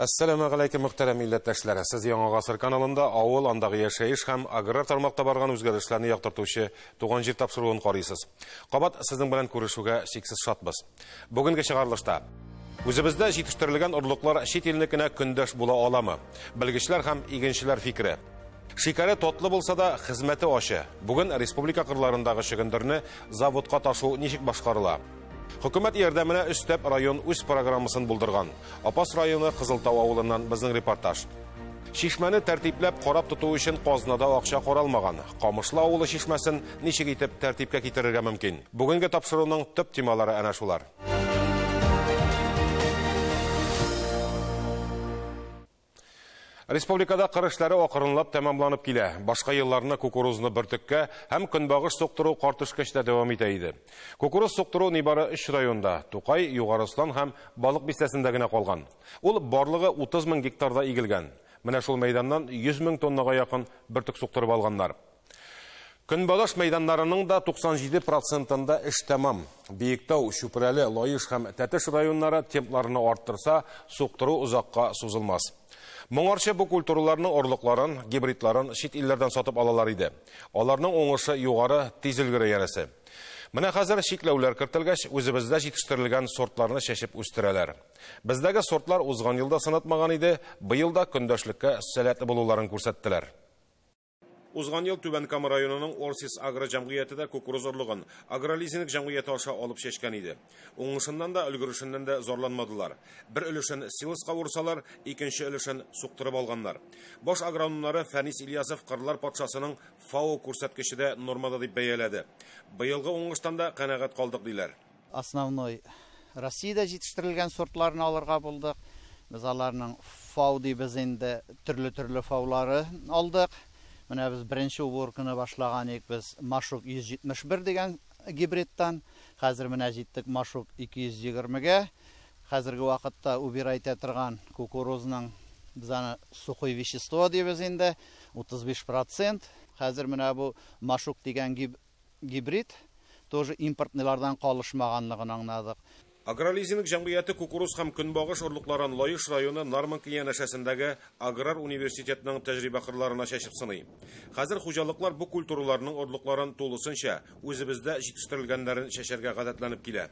Әссәламә галәйкем мөхтәрәм милләттәшләре. Сез Яңа гасыр каналында авыл, андагы яшәеш һәм аграр тармакта барган үзгәрешләрне яктыртучы Туган җир тапшыруын карыйсыз. Кабат сезнең белән күрешүгә чиксез шатбыз. Бүгенге чыгарылышта Үзебездә җитештерелгән орлыклар чит илнекенә көндәш була аламы? Белгечләр һәм игенчеләр фикере. Шикәре тотлы булса да, хезмәте ачы. Бүген республика кырларындагы чөгендерне заводка ташу ничек башкарыла? Хөкүмәт ярдәменә өстәп район үз программасын булдырган. Апас районы Кызылтау авылыннан безнең репортаж. Чишмәне тәртипләп, карап тоту өчен казнада акча каралмаган. Камышлы авылы чишмәсен Ничек итеп тәртипкә китерергә мөмкин? Бүгенге тапшыруның төп темалары әнә шулар. Республикада кыр эшләре акрынлап тәмамланып килә. Башка елларны кукурузны бөртеккә һәм көнбагыш суктыру картышкычта дәвам итә иде. Кукуруз суктыру нибары өч районда, Тукай, Югары Ослан һәм Балык бистәсендә генә калган. Ул барлыгы 30 мең гектарда игелгән. Менә шул мәйданнан 100 мең тоннага якын бөртек суктырып алганнар. Көнбагыш мәйданнарының да 97 процентында эш тәмам. Биектау, Чүпрәле, Лаеш һәм Тәтеш районнары темпларны арттырса, суктыру озакка сузылмас. Моңарчы бу культураларның орлыкларын, гибридларын чит илләрдән сатып алалар иде. Аларның уңышы югары, тиз өлгерә янәсе. Менә хәзер чикләүләр кертелгәч, үзебездә җитештерелгән сортларны чәчеп үстерәләр. Бездәге сортлар узган елда сынатмаган иде, быел да көндәшлеккә сәләтле булуларын күрсәттеләр. Узган ел Түбән Кама районының Орсис агро җәмгыяте дә кукуруз орлыгын агролизинг җәмгыяте аша алып чәчкән иде. Уңышыннан да, өлгерешеннән дә зарланмадылар. Бер өлешен силоска урсалар, икенче өлешен суктырып алганнар. Баш агрономнары Фәнис Ильясов кырлар патшасының ФАО күрсәткече дә нормада дип бәяләде. Быелгы уңыштан да канәгать калдык, диләр. Основной Россиядә җитештерелгән сортларны алырга булдык. Без аларның фау дибез инде, төрле-төрле фаулары алдык. Менә без беренче уборканы башлаган идек без Машук 171 дигән гибридтан. Хәзер менә җиттек Машук 220-гә. Хәзерге вакытта убирай итә торган кукурузның без аны сухое вещество дибез инде, 35%. Хәзер менә бу Машук дигән гибрид Гибрид тоже импортныйлардан калышмаганлыгын аңнадык. Агролизинг җәмгыяте кукуруз һәм көнбагыш орлыкларын Лаеш районы Нарманка янәшәсендәге аграр университетның тәҗрибә кырларына чәчеп сыный. Хәзер хуҗалыклар бу культураларның орлыкларын тулысынча үзебездә җитештерелгәннәрен чәчәргә гадәтләнеп килә.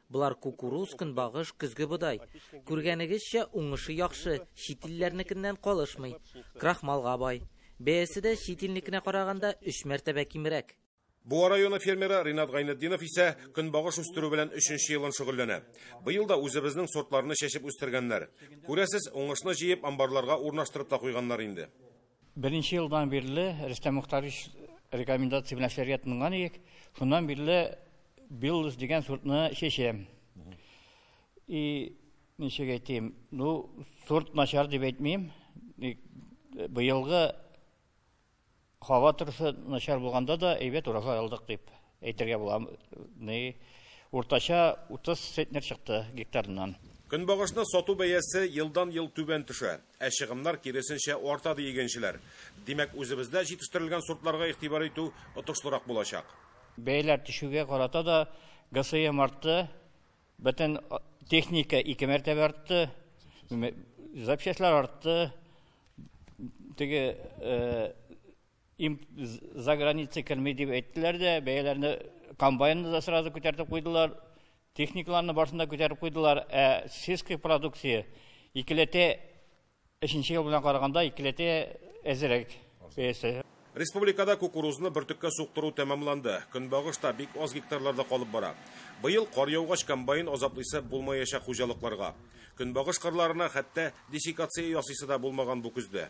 Болар кукуруз, көнбагыш, көзге бодай. Күргәнегезчә, уңышы яхшы, чит илләрнекеннән калышмый. Крахмалга бай. Бәясе дә чит илнекенә караганда өч мәртәбә кимрәк. Буа районы фермеры Ринат Гайнетдинов исә көнбагыш үстерү белән өченче елын шөгыльләнә. Быел да үзебезнең сортларны чәчеп үстергәннәр. Күрәсез, уңышны җыеп, амбарларга урнаштырып та куйганнар инде. Беренче елдан бирле Рөстәм Мөхтарович рекомендация белән эшләргә тотынган идек. Шуннан бирле Биллус дигән сортны чәчәм. И ничек әйтим, ну, сорт начар дип әйтмим. Быелгы һава торышы начар булганда да әйбәт урожай алдык дип әйтергә була. Ни уртача 30 центнер чыкты гектарыннан. Көнбагышны сату бәясе елдан-ел түбән төшә. Ә чыгымнар киресенчә арта, ди игенчеләр. Димәк, үзебездә җитештерелгән сортларга игътибар итү отышлырак булачак. Бәяләр төшүгә карата да ГСМ артты, бөтен техника ике мәртәбә артты, запчастьлар артты, теге за граница керми дип әйттеләр дә, бәяләрне комбайнны да сразу күтәртеп куйдылар, Техникаларны барысын да күтәреп куйдылар, ә сельская продукция икеләтә өченче ел белән караганда икеләтә әзрәк бәясе. Республикада кукурузны бөртеккә суктыру тәмамланды. Көнбагыш та бик аз гектарларда калып бара. Быел кар яугач комбайн азаплы исәп булмаячак хуҗалыкларга. Көнбагыш кырларына хәтта десекация ясыйсы да булмаган бу көздә.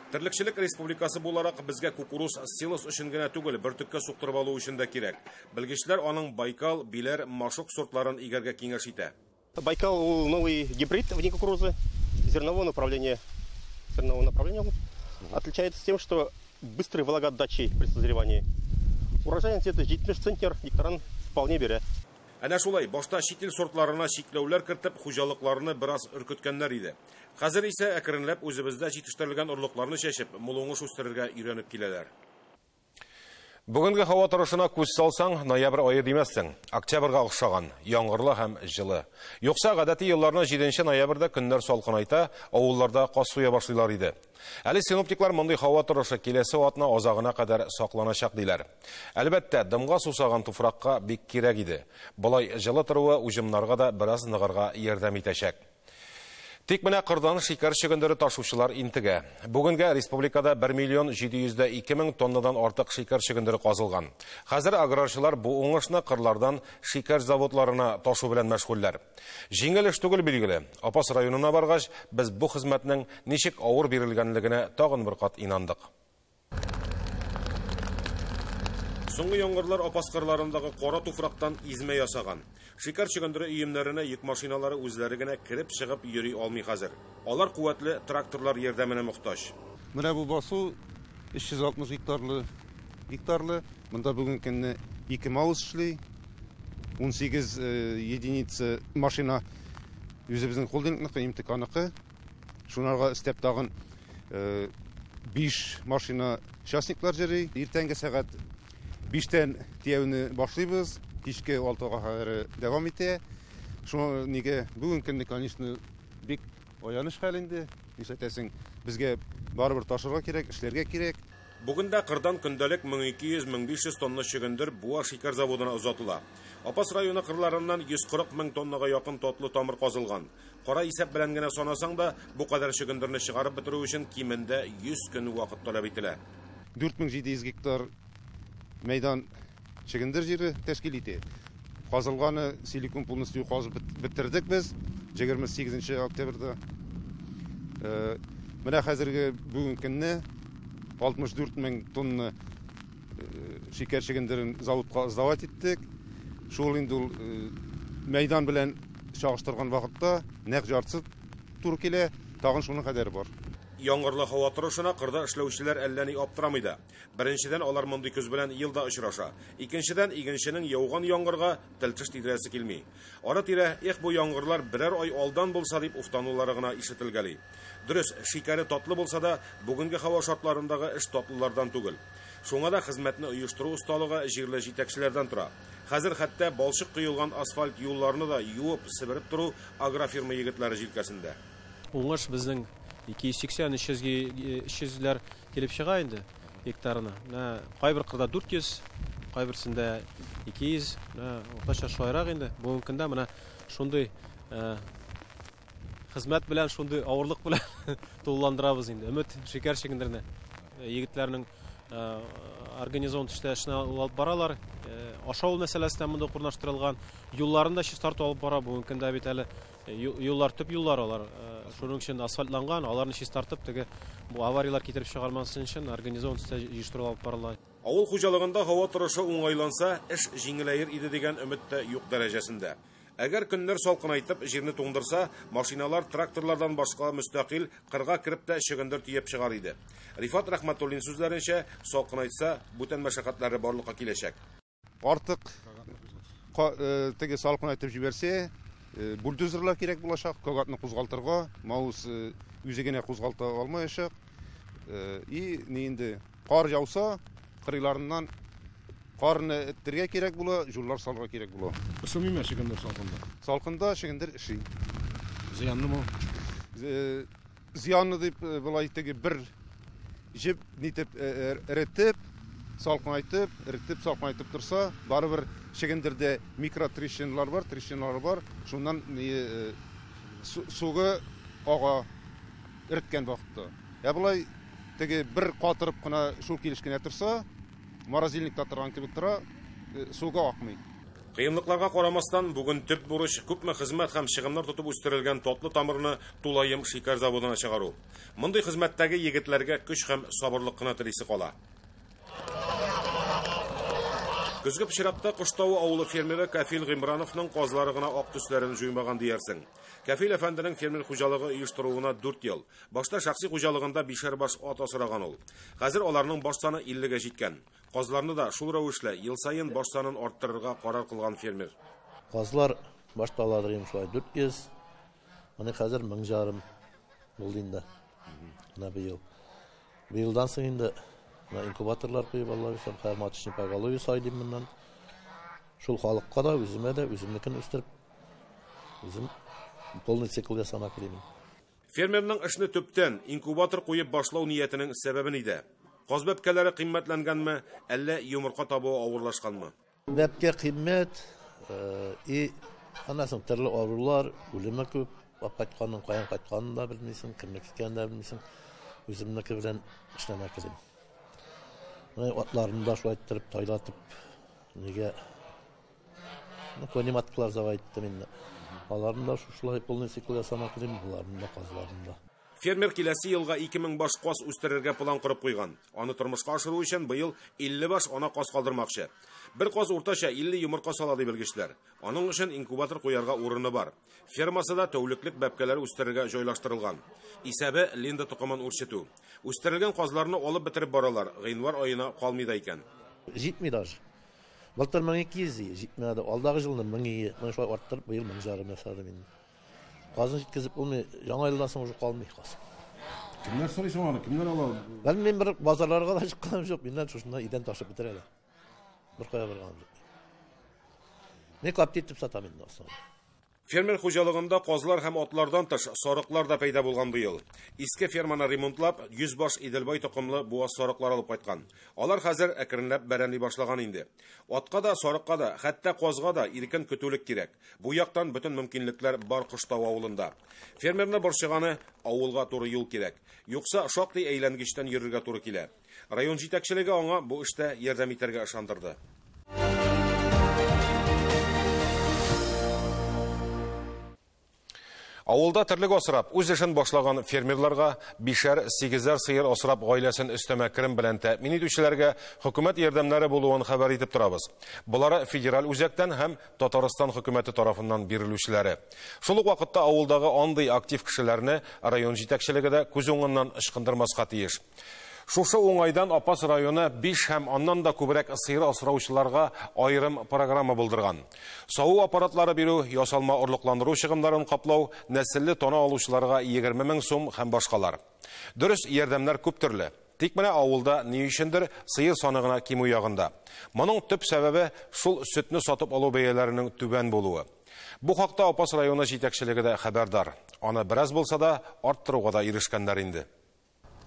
Терлекчелек республикасы буларак, безгә кукуруз силос өчен генә түгел, бөртеккә суктырып алу өчен дә кирәк. Белгечләр аның Байкал, Биләр, Машук сортларын игәргә киңәш итә. Байкал ул новый гибрид вне кукурузы, зерновое направление, зерновое направление ул. Отличается тем, что быстрой влагоотдачей при созревании. Урожайность где-то 70 центнер гектаран вполне бирә. Әнә шулай, башта чит ил сортларына чикләүләр кертеп, хуҗалыкларны бераз өркеткәннәр иде. Хәзер исә әкренләп үзебездә җитештерелгән орлыкларны чәчеп, мул уңыш үстерергә өйрәнеп киләләр. Бүгенге һава торышына күз салсаң, ноябрь ае димәссең. Октябрьгә охшаган, яңгырлы һәм җылы. Юкса, гадәти елларны 7 нче ноябрьдә көннәр салкынайта, авылларда каз суя башлыйлар иде. Әле синоптиклар мондый һава торышы киләсе атна азагына кадәр сакланачак диләр. Әлбәттә, дымга сусаган туфракка бик кирәк иде. Болай җылы торуы уҗымнарга да бераз ныгырга ярдәм итәчәк. Тик менә кырдан шикәр чөгендере ташучылар интегә. Бүгенгә республикада 1 миллион 702 мең тоннадан артык шикәр чөгендере казылган. Хәзер аграрчылар бу уңышны кырлардан шикәр заводларына ташу белән мәшгульләр. Җиңел эш түгел билгеле. Апас районына баргач, без бу хезмәтнең ничек авыр бирелгәнлегенә тагын бер кат инандык. Соңгы яңгырлар Апас кырларындагы кара туфрактан измә ясаган. Шикәр чөгендере өемнәренә йөк машиналары үзләре генә кереп-чыгып йөри алмый хәзер. Алар куәтле тракторлар ярдәменә мохтаҗ. Менә бу басу 360 гектарлы, гектарлы. Монда бүгенге көнне ике маус эшли, 18 единица машина үзебезнең холдингныкы, МТКныкы. Шунарга өстәп тагын э, биш машина частниклар җыри. Иртәнге сәгать биштән тияүне башлыйбыз, кичке алтыга кадәр дәвам итә. Шуңа нигә бүген көнне, конечно, бик аяныч хәл инде. Нишләтәсең, безгә барыбер ташырга кирәк, эшләргә кирәк. Бүген дә кырдан көндәлек 1200-1500 тонна чөгендер Буа шикәр заводына озатыла. Апас районы кырларыннан 140 мең тоннага якын татлы тамыр казылган. Кара исәп белән генә санасаң да, бу кадәр чөгендерне чыгарып бетерү өчен кимендә 100 көн вакыт таләп ителә. 4700 гектар мәйдан чөгендер җире тәшкил ити. Казылганы силикон полностью казып бетердек без 28 нче октябрьдә. Менә хәзерге бүгенге көнне 64 мең тонна Шикәр чөгендерен заводка сдавать иттек. Шул инде ул мәйдан белән чагыштырган вакытта нәкъ яртысы туры килә, тагын шуның кадәре бар. Яңгырлы һава торышына кырда эшләүчеләр әллә ни аптырамый да. Беренчедән, алар мондый көз белән ел да очраша. Икенчедән, игенченең яуган яңгырга тел-теш тидерәсе килми. Ара-тирә, Эх, бу яңгырлар берәр ай алдан булса, дип уфтанулары гына ишетелгәли. Дөрес, шикәре татлы булса да, бүгенге һава шартларындагы эш татлылардан түгел. Шуңа да хезмәтне оештыру осталыгы җирле җитәкчеләрдән тора. Хәзер хәтта балчык коелган асфальт юлларны да юып, себереп тору агрофирма егетләре җилкәсендә. Уңыш безнең 280-300 ләр Килеп чыга инде гектарына. Менә кайбер кырда 400, кайберсендә 200, менә уртача шулайрак инде. Бүгенге көндә менә шундый хезмәт белән, шундый авырлык белән тулыландырабыз инде. Өмет шикәр чигендеренә. Егетләрнең организован төштә эшне алып баралар. Ашау мәсьәләсе дә монда урнаштырылган. Юлларын да чистарту алып бара. Бүгенге көндә бит әле Юллар төп юллар алар. Шуның өчен асфальтланган, аларны чистартып, теге бу аварияләр китереп чыгармасын өчен организован төстә җыештыру алып барыла. Авыл хуҗалыгында һава торышы уңайланса, эш җиңеләер иде дигән өмет тә юк дәрәҗәсендә. Әгәр көннәр салкынайтып, җирне туңдырса, машиналар, тракторлардан башка мөстәкыйль кырга кереп тә чөгендер төяп чыгар иде. Рифат Рәхмәтуллин сүзләренчә, салкынайтса, бүтән мәшәкатьләре барлыкка киләчәк. Артык теге салкын айтып җибәрсә, бульдозерлар кирәк булачак, кагатны кузгалтырга, маус үзе генә кузгалта алмаячак. И ни инде кар яуса, кырыйларыннан карны эттергә кирәк була, җуллар салырга кирәк була. Ысымыймы чөгендер салкында? Салкында чөгендер эши. Зыянлымы? Зыянны дип болай теге бер җеп нитеп эретеп, салкынайтып, эретеп, салкынайтып торса, барыбер чегендердә микротрещиналар бар, трещиналар бар. Шуннан сугы ага эреткән вакытта. Ә болай теге бер катырып кына шул килеш кенә торса, морозильникта торган кебек тора, сугы акмый. Кыенлыкларга карамастан, бүген төп бурыч, күпме хезмәт һәм чыгымнар тотып үстерелгән татлы тамырны Тулаем шикәр заводына чыгару. Мондый хезмәттәге егетләргә көч һәм сабырлык кына телисе кала. Көзге пычракта Коштавы авылы фермеры Кәфил Гыймрановның казлары гына ак төсләрен җуймаган диярсең. Кәфил әфәнденең фермер хуҗалыгы оештыруына дүрт ел. Башта шәхси хуҗалыгында бишәр баш ат асраган ул. Хәзер аларның баш саны 50 гә җиткән. Казларны да шул рәвешле ел саен баш санын арттырырга карар кылган фермер. Казлар башта алалар идем шулай 400. Менә хәзер 1000 жарым булды инде. Менә быел. Быелдан соң инде менә инкубаторлар куеп алалар, исән хәзер маточный поголовье сайдым моннан. Шул халыкка да, үземә дә, үземнекен үстереп, үзем полный цикл ясамак идем. Фермерның эшне төптән, инкубатор куеп башлау ниятенең сәбәбе нидә? Каз бәпкәләре кыйммәтләнгәнме, әллә йомырка табуы авырлашканмы? Бәпкә кыйммәт, э, и аннан соң төрле авырулар, үлеме күп. Алып кайтканның каян кайтканын да белмисең, кемнеке икәнен дә белмисең. Үземнеке белән эшләмәк идем. Менә атларны да шулай иттереп тайлатып, нигә Көне матклар зава иттем инде. Аларны да шушылай полный цикл ясамак идем, боларны да казларны да. Фермер киләсе елга 2000 баш каз үстерергә план корып куйган. Аны тормышка ашыру өчен быел 50 баш ана каз калдырмакчы. Бер каз уртача 50 йомырка сала ди белгечләр. Аның өчен инкубатор куярга урыны бар. Фермасы да тәүлеклек бәбкәләр үстерергә җайлаштырылган. Исәбе Линда токымын үрчетү. Үстерелгән казларны алып бетереп баралар, гыйнвар аена калмый да икән. Җитми даже. Былтыр 1200 ие, җитмәде. Алдагы җылны 1000 ие. Менә шулай арттырып, быел 1000 жарым ясадым инде. Казын җиткезеп булмый, яңа елдан соң уже калмый каз. Кемнәр сорый соң аны? Кемнәр ала? Бәлки мин бер базарларга да чыкканым юк, миннән шушында идән ташып бетерәләр. Беркая барганым юк. Мин капти итеп сатам инде основном. Фермер хуҗалыгында казлар һәм атлардан тыш сарыклар да пәйда булган бу ел. Иске ферманы ремонтлап, 100 баш Иделбай токымлы буаз сарыклар алып кайткан. Алар хәзер әкренләп бәрәнли башлаган инде. Атка да, сарыкка да, хәтта казга да иркен көтүлек кирәк. Бу яктан бөтен мөмкинлекләр бар Коштау авылында. Фермерны борчыганы, авылга туры юл кирәк. Юкса, шактый әйләнгечтән йөрергә туры килә. Район җитәкчелеге аңа бу эштә ярдәм итәргә ышандырды. Авылда терлек асрап, үз эшен башлаган фермерларга, бишәр, сигезәр сыер асрап гаиләсен өстәмә керем белән тәэмин итүчеләргә хөкүмәт ярдәмнәре булуын хәбәр итеп торабыз. Болар федераль үзәктән һәм Татарстан хөкүмәте тарафыннан бирелүчеләре. Шул ук вакытта авылдагы андый актив кешеләрне район җитәкчелеге дә күз уңыннан ычкындырмаска тиеш. Шушы уңайдан Апас районы биш һәм аннан да күбрәк сыер асраучыларга аерым программа булдырган. Саву аппаратлары бирү, ясалма орлыкландыру чыгымнарын каплау, нәселле тана алучыларга егерме мең сум һәм башкалар. Дөрес, ярдәмнәр күп төрле. Тик менә авылда, ни өчендер, сыер саны гына кимү ягында. Моның төп сәбәбе, шул сөтне сатып алу бәяләренең түбән булуы. Бу хакта Апас районы җитәкчелеге дә хәбәрдар. Аны бераз булса да арттыруга да ирешкәннәр инде.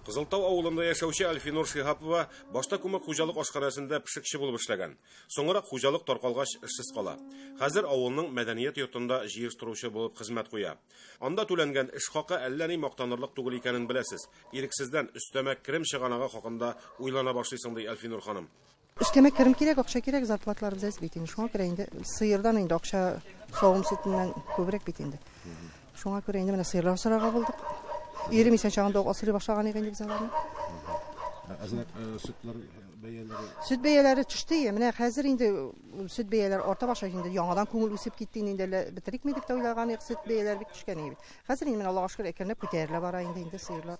Кызылтау авылында яшәүче Альфинур Шиһапова башта күмәк хуҗалык ашханәсендә пешекче булып эшләгән. Соңрак хуҗалык таркалгач, эшсез кала. Хәзер авылның мәдәният йортында җыештыручы булып хезмәт куя. Анда түләнгән эш хакы әллә ни мактанырлык түгел икәнен беләсез. Ирексездән өстәмә керем чыганагы хакында уйлана башлыйсың, ди Альфинур ханым. Өстәмә керем кирәк, акча кирәк, зарплаталарыбыз әз бит инде. Шуңа күрә инде сыердан инде акча савым сөтеннән күбрәк бит инде. Шуңа күрә инде менә сыерлар сорарга булдык. Ирем исән чагында ук асрый башлаган иде инде без аларны. Ә сөтләр бәяләре? Сөт бәяләре төште. Менә хәзер инде сөт бәяләре арта башлый инде. Яңадан күңел үсеп китте инде әле бетерикме дип тә уйлаган идек. Сөт бәяләре бик төшкән иде. Хәзер инде менә Аллага шөкер әкренләп күтәрелә бара инде инде сыерлар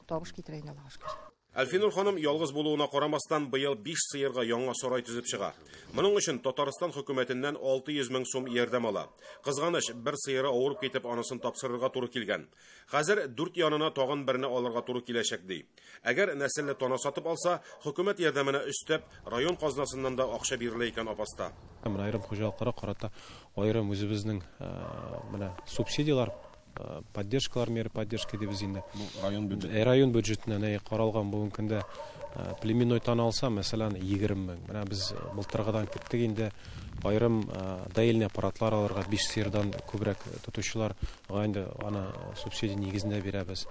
табыш китерә инде Аллага шөкер. Әлфинур ханым ялгыз булуына карамастан, быел биш сыерга яңа сарай төзеп чыга. Моның өчен Татарстан хөкүмәтеннән 600 мең сум ярдәм ала. Кызганыч, бер сыеры авырып китеп, анысын тапсырырга туры килгән. Хәзер дүрт янына тагын берне алырга туры киләчәк, ди. Әгәр нәселле тана сатып алса, хөкүмәт ярдәменә өстәп, район казнасыннан да акча бирелә икән апаста. Менә аерым хуҗалыкларга карата аерым үзебезнең менә субсидияләр. Поддержкалар меры поддержки дибез инде. Район бюджеты. Э, район бюджетына нәй каралган бүгенге көндә э, племенной тан алса, мәсәлән, 20 мең. Менә без э, былтыргыдан киттек инде. Айрым даилне аппаратлар алырга 5 сыердан күбрәк тотучылар инде аны субсидия нигезендә бирәбез.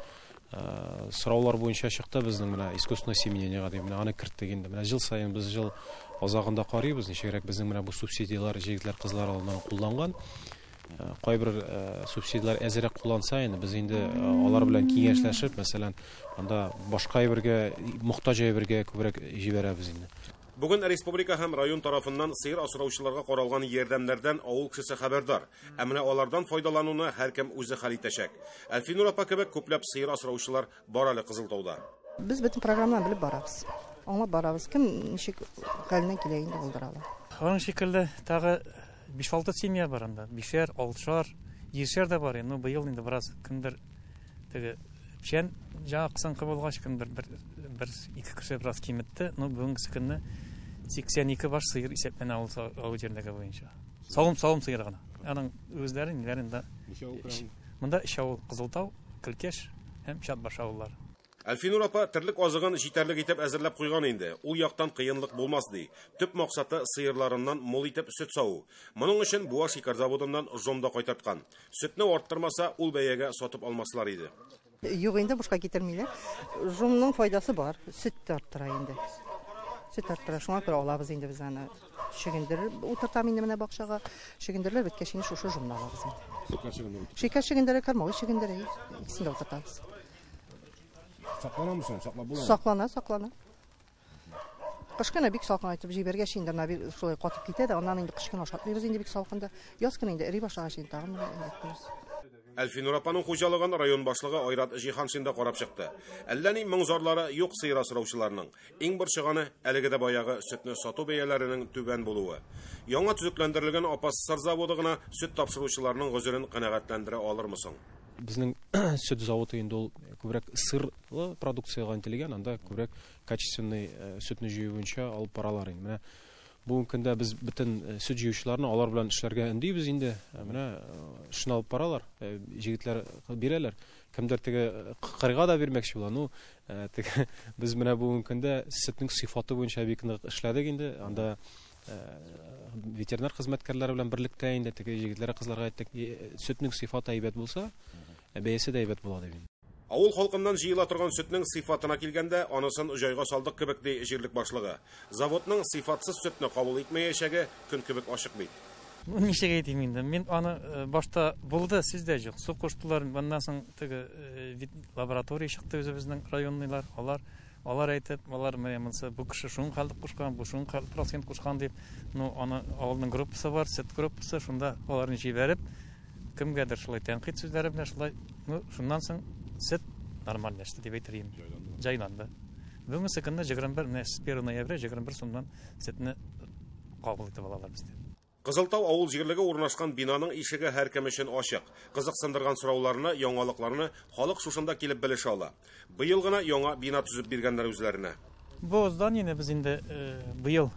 Сораулар буенча чыкты безнең менә искусственное семенение дип менә аны керттек инде. Менә ел саен без ел азагында карыйбыз, ничегрәк безнең менә бу субсидияләр җегетләр кызлар алыннан кулланган. Кайбер субсидияләр әзрәк кулланса инде, без инде алар белән киңәшләшеп, мәсәлән, анда башка әйбергә, мохтаҗ әйбергә күбрәк җибәрәбез инде. Бүген республика һәм район тарафыннан сыер асраучыларга каралган ярдәмнәрдән авыл кешесе хәбәрдар. Ә менә алардан файдалануны һәркем үзе хәл итәчәк. Әлфинур апа кебек күпләп сыер асраучылар Бар әле Кызылтауда. Без бөтен программаны белеп барабыз. Аңлап барабыз. Кем ничек хәленнән килә инде булдыра ала. Аның шикелле тагы 5-6 семья бар анда. Бишәр, алтышар, җиршәр дә бар. Ну, быел инде бераз кемдер теге печән җа кысынкы булгач, кемдер бер бер ике кеше бераз киметте. Ну, бүгенге көнне 82 баш сыер исәпләнә авыл авыл җирлеге буенча. Савым-савым сыеры гына. Аның үзләрен, ниләрен дә. Монда өч авыл, Кызылтау, Көлкеш һәм Чатбаш авыллар. Әлфинур апа терлек азыгын җитәрлек итеп әзерләп куйган инде, ул яктан кыенлык булмас ди. Төп максаты, сыерларыннан мул итеп сөт саву. Моның өчен Буа шикәр заводыннан жом да кайтарткан. Сөтне арттырмаса, ул бәягә сатып алмаслар иде. Юк инде, бушка китермиләр. Жомның файдасы бар, сөт тә арттыра инде. Сөт арттыра, шуңа күрә алабыз инде без аны. Чөгендереп утыртам инде менә бакчага. Чөгендерләр беткәч инде шушы җомны алабыз. Шикәр чөгендере. Шикәр чөгендере, кормовой чөгендере. Икесен дә утыртабыз. Сакланамы соң? Саклап буламы? Саклана, саклана. Кыш кына бик салкын айтып җибәргәч инде ана бик шулай катып китә дә, аннан инде кыш кына ашатмыйбыз инде бик салкында. Яз кына инде эри башлагач инде тагын менә Әлфинур апаның хуҗалыгын район башлыгы Айрат Җиһаншин да карап чыкты. Әллә ни моң-зарлары юк сыер асраучыларның. Иң борчыганы, әлеге дә баягы сөтне сату бәяләренең түбән булуы. Яңа төзекләндерелгән Апас сыр заводы гына сөт тапшыручыларның гозерен канәгатьләндерә алырмы соң? Безнең сөт заводы инде ул күбрәк сырлы продукциягә интелгән, анда күбрәк качественный сөтне җыю буенча алып баралар инде. Менә Бүгенге көндә без бөтен сөт җыючыларны алар белән эшләргә өндибез инде. Менә эшне алып баралар, җегетләр бирәләр. Кемдер теге кырга да бирмәкче була. Ну, теге без менә бүгенге көндә сөтнең сыйфаты буенча бик нык эшләдек инде. Анда ветеринар хезмәткәрләре белән берлектә инде теге егетләргә кызларга әйттек, сөтнең сыйфаты әйбәт булса, бәясе дә әйбәт була дип. Авыл халкыннан җыела торган сөтнең сыйфатына килгәндә, анысын җайга салдык кебек, ди җирлек башлыгы. Заводның сыйфатсыз сөтне кабул итмәячәге көн кебек ачык бит. Ничек әйтим инде, мин аны башта булды, сүз дә юк, су куштылар, моннан соң теге лаборатория чыкты үзебезнең районныйлар, алар Алар әйтеп, алар менә монсы бу кеше шуның калдык кушкан, бу шуның калдык процент кушкан дип, ну, аны авылның группасы бар, сет группасы, шунда аларны җибәреп, кемгәдер шулай тәнкыйть сүзләре белән шулай, ну, шуннан соң сет нормальләште дип әйтер идем. Җайланды. Җайланды. Бүгенге көнне 21, менә 1 ноябрь 21 сумнан сетне кабул итеп алалар бездә. Кызылтау авыл җирлеге урнашкан бинаның ишеге һәркем өчен ачык. Кызыксындырган сорауларны, яңалыкларны халык шушында килеп белешә ала. Быел гына яңа бина төзеп биргәннәр үзләренә. Бу зданиене без инде быел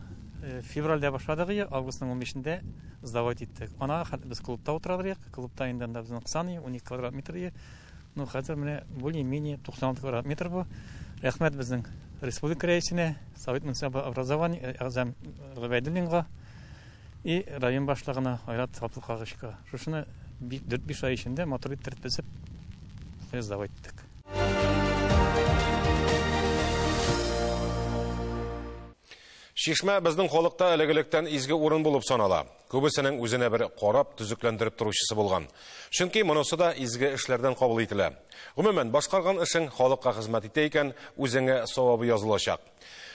февральдә башладык ее, августның унбишендә сдавать иттек. Ана хәзер без клубта утыралыйк, клубта инде анда безнең сан ее, унике квадрат метр ее. Ну, хәзер менә более-менее 96 квадрат метр бу. Рәхмәт безнең республика рәисенә, совет муниципаль образование әгъзам Гобәйдуллинга. И район башлыгына, Айрат Габдулкаговичка шушыны бик дүрт-биш ай эчендә матур итеп тертпесеп сдав иттек. Шишмә безнең халыкта элек-электән изге урын булып санала. Күбесенең үзенә бер карап, төзекләндереп торучысы булган. Чөнки монысы да изге эшләрдән кабул ителә. Гомумән, башкарган эшең халыкка хезмәт итә икән, үзеңә савабы язылачак.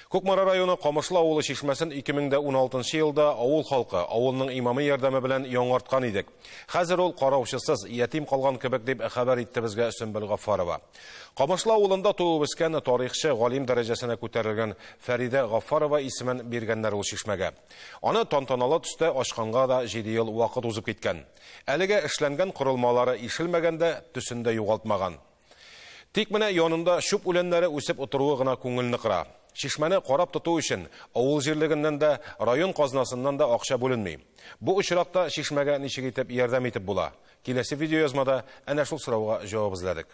Кукмара районы Камышлы авылы чишмәсен 2016 елда авыл халкы, авылның имамы ярдәме белән яңарткан идек. Хәзер ул караучысыз, ятим калган кебек дип хәбәр итте безгә Сөмбел Гаффарова. Камышлы авылында туып үскән тарихчы, галим дәрәҗәсенә күтәрелгән Фәридә Гаффарова исемен биргәннәр ул чишмәгә. Аны тантаналы төстә ачканга да 7 ел вакыт узып киткән. Әлегә эшләнгән корылмалары ишелмәгән дә, төсен дә югалтмаган. Тик менә янында чүп үләннәре үсеп утыруы гына күңелне кыра. Чишмәне карап тоту өчен авыл җирлегеннән дә, район казнасыннан да акча бүленми. Бу очракта чишмәгә ничек итеп ярдәм итеп була? Киләсе видеоязмада әнә шул сорауга җавап эзләдек.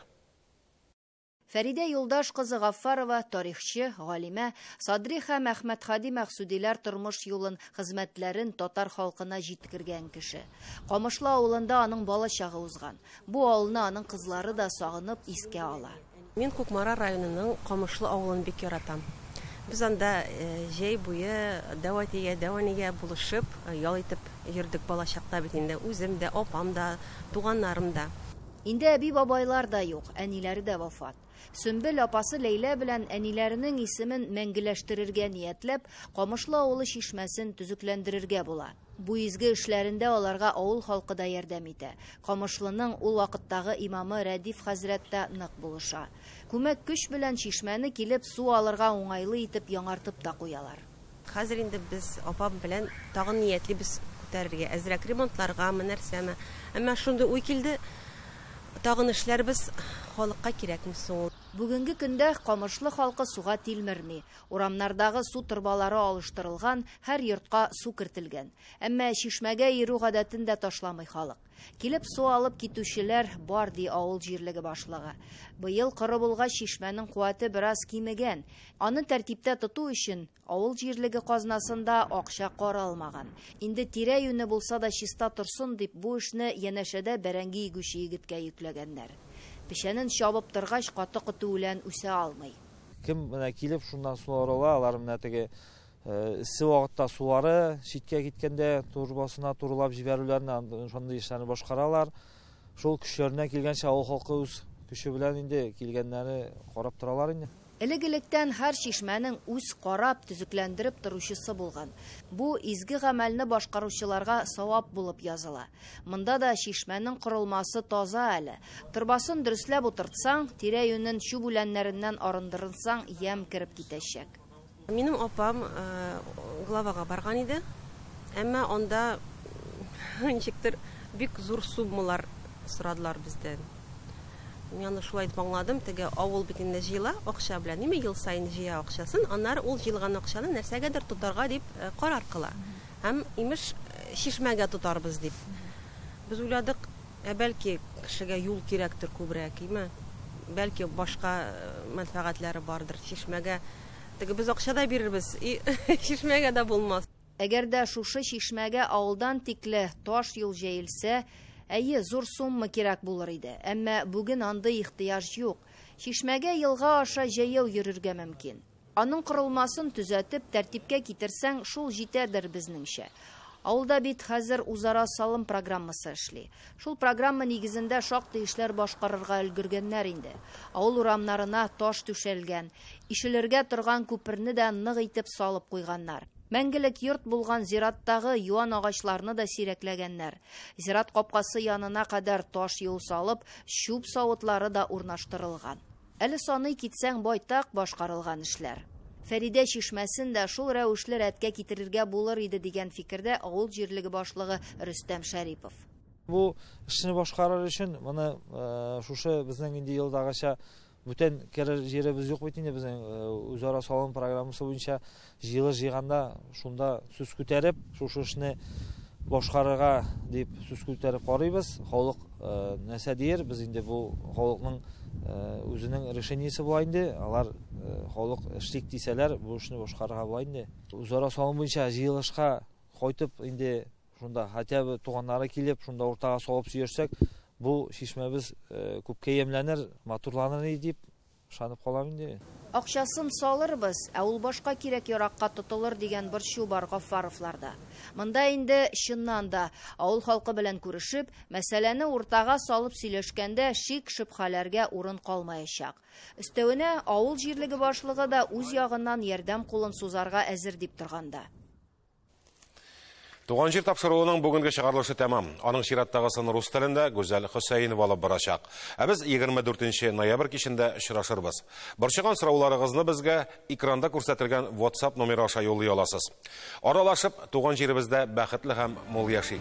Фәридә Юлдаш кызы Гаффарова, тарихчы, галимә, Садри һәм Әхмәтһади Мәхсүдиләр тормыш юлын, хезмәтләрен татар халкына җиткергән кеше. Камышлы авылында аның балачагы узган. Бу авылны аның кызлары да сагынып искә ала. Мин Кукмара районының Камышлы авылын бик яратам. Без анда җәй буе дәү әтигә, дәү әнигә булышып, ял итеп йөрдек балачакта бит инде, үзем дә, апам да, туганнарым да. Инде әби-бабайлар да юк, әниләре дә вафат. Сөмбел апасы Ләйлә белән әниләренең исемен мәңгеләштерергә ниятләп, Камышлы авылы чишмәсен төзекләндерергә була. Бу изге эшләрендә аларга авыл халкы да ярдәм итә. Камышлының ул вакыттагы имамы Рәдиф хәзрәт тә нык булыша. Күмәк көч белән чишмәне килеп су алырга уңайлы итеп яңартып та куялар. Хәзер инде без апам белән тагын ниятлибез күтәрергә, әзрәк ремонтларгамы, нәрсәме. Әмма шундый уй килде, тагын эшләрбез, халыкка кирәкме соң ул? Бүгенге көндә Камышлы халкы суга тилмерми. Урамнардагы су торбалары алыштырылган, һәр йортка су кертелгән. Әмма чишмәгә йөрү гадәтен дә ташламый халык. Килеп су алып китүчеләр бар, ди авыл җирлеге башлыгы. Быел коры булгач, чишмәнең куәте бераз кимегән. Аны тәртиптә тоту өчен авыл җирлеге казнасында акча каралмаган. Инде тирә-юне булса да чиста торсын дип, бу эшне янәшәдә бәрәңге игүче егеткә йөкләгәннәр. Печәнен чабып торгач, каты котү үлән үсә алмый. Кем менә килеп шуннан су орыла, алар менә теге Эссе вакытта сулары читкә киткәндә турбасына турылап җибәрүләрне, шундый эшләрне башкаралар. Шул көчләренә килгәнчә авыл халкы үз көче белән инде килгәннәре карап торалар инде. Элек-электән һәр чишмәнең үз карап, төзекләндереп торучысы булган. Бу изге гамәлне башкаручыларга савап булып языла. Монда да чишмәнең корылмасы таза әле. Торбасын дөресләп утыртсаң, тирә-юнен чүп үләннәреннән арындырынсаң, ямь кереп китәчәк. Минем апам главага барган иде, әмма анда ничектер бик зур суммалар сорадылар бездән. Мин аны шулай итеп аңладым, теге авыл бит инде җыела акча белән, ниме ел саен җыя акчасын, аннары ул җыелган акчаны нәрсәгәдер тотарга дип карар кыла. Һәм, имеш, чишмәгә тотарбыз дип. Без уйладык, Ә бәлки, кешегә юл кирәктер күбрәк, име? Бәлки, башка мәнфәгатьләре бардыр, чишмәгә теге без акча да бирербез, и, чишмәгә дә булмас. Әгәр дә шушы чишмәгә авылдан тикле таш юл җәелсә, әйе, зур сумма кирәк булыр иде. Әмма бүген андый ихтыяҗ юк. Чишмәгә елга аша җәяү йөрергә мөмкин. Аның корылмасын төзәтеп, тәртипкә китерсәң, шул җитәдер, безнеңчә. Авылда бит хәзер үзара салым программасы эшли. Шул программа нигезендә шактый эшләр башкарырга өлгергәннәр инде. Авыл урамнарына таш түшәлгән. Ишелергә торган күперне дә нык итеп салып куйганнар. Мәңгелек йорт булган зираттагы юан агачларны да сирәкләгәннәр. Зират капкасы янына кадәр таш юл салып, чүп савытлары да урнаштырылган. Әле саный китсәң байтак башкарылган эшләр. Фәридә чишмәсен дә шул рәвешле рәткә китерергә булыр иде, дигән фикердә авыл җирлеге башлыгы Рөстәм Шәрипов. Бу эшне башкарыр өчен моны шушы безнең инде елдагыча бүтән керер җиребез юк бит инде безнең, үзара салым программасы буенча Җыелыш җыйганда шунда сүз күтәреп, шушы эшне башкарырга дип сүз күтәреп карыйбыз. Халык нәрсә дияр? Без инде бу халыкның үзенең решениесе була инде. Алар халык эшлик дисәләр, бу эшне башкарырга була инде. Үзара салым буенча җыелышка кайтып инде шунда хотя бы туганнары килеп, шунда уртага салып сөйерсәк, бу чишмәбез күпкә ямьләнер, матурланыр дип Ышанып калам инде. Акчасын салырбыз, ә ул башка кирәк-яракка тотылыр дигән борчу бар Гаффаровларда. Монда инде, чыннан да, авыл халкы белән күрешеп, мәсьәләне уртага салып сөйләшкәндә шик-шөбһәләргә урын калмаячак. Өстәвенә, авыл җирлеге башлыгы да үз ягыннан ярдәм кулын сузарга әзер дип торганда. Туган җир тапшыруының бүгенге чыгарылышы тәмам. Аның чираттагысын рус телендә Гүзәл Хөсәенова алып барачак. Ә без 24 ноябрь кичендә очрашырбыз. Борчыган сорауларыгызны безгә экранда күрсәтелгән WhatsApp номеры аша юллый аласыз. Аралашып, туган җиребездә бәхетле һәм мул яшик.